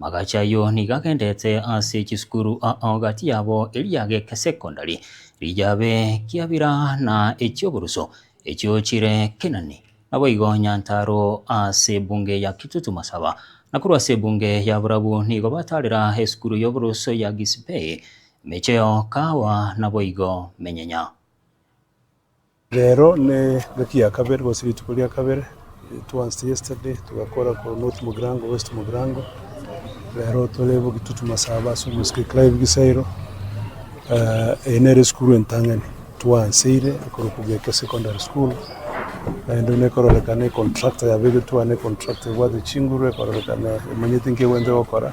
Magachi ayio nigo agendete ase chisukuru ao gati yabo eria gekesekondari, riyabe kiabira na eki'oboruso, echio chire kinani. Naboigo Nyantaaro ase ebunge ya Kitutu Masaba, na korwa ase ebunge ya Borabu nigo bataarera esukuru y'oboruso ya Gisipei, emecheo, kaawa, naboigo menyenya. Rero ne gaki ya kabere gose rituko ria kabere towards yesterday togakora korwa North Mugirango, West Mugirango, rero tore bogie totwe masaba ase omosike Clive Gisairo. Eh, eye nere esukuru entang'ani twanseire ekoro Kugeke Secondary School, naende buna ekororekana econtractor yabegetwe ane econtractor ebwate chinguru ekororekana emanyete nki egwente gokora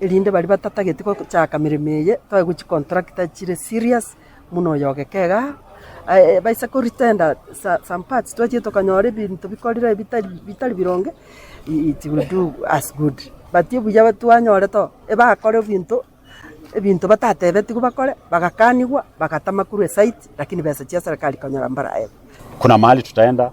Erinde baria batatageti gochaaka meremo eye, toe gochia contractor chire serious buna oyo ogeke iga, baise ko retender some parts twachire tokanyora ebinto bikorire bitari bironge, it will do us good. But obuya twanyorete oo, ebakore ebinto, ebinto batatebetigwe bakore, bagakanigwa, bagatama korwa esite, lakini besa chia serikali konyora mbaraebe. Kuna mahali tutaenda.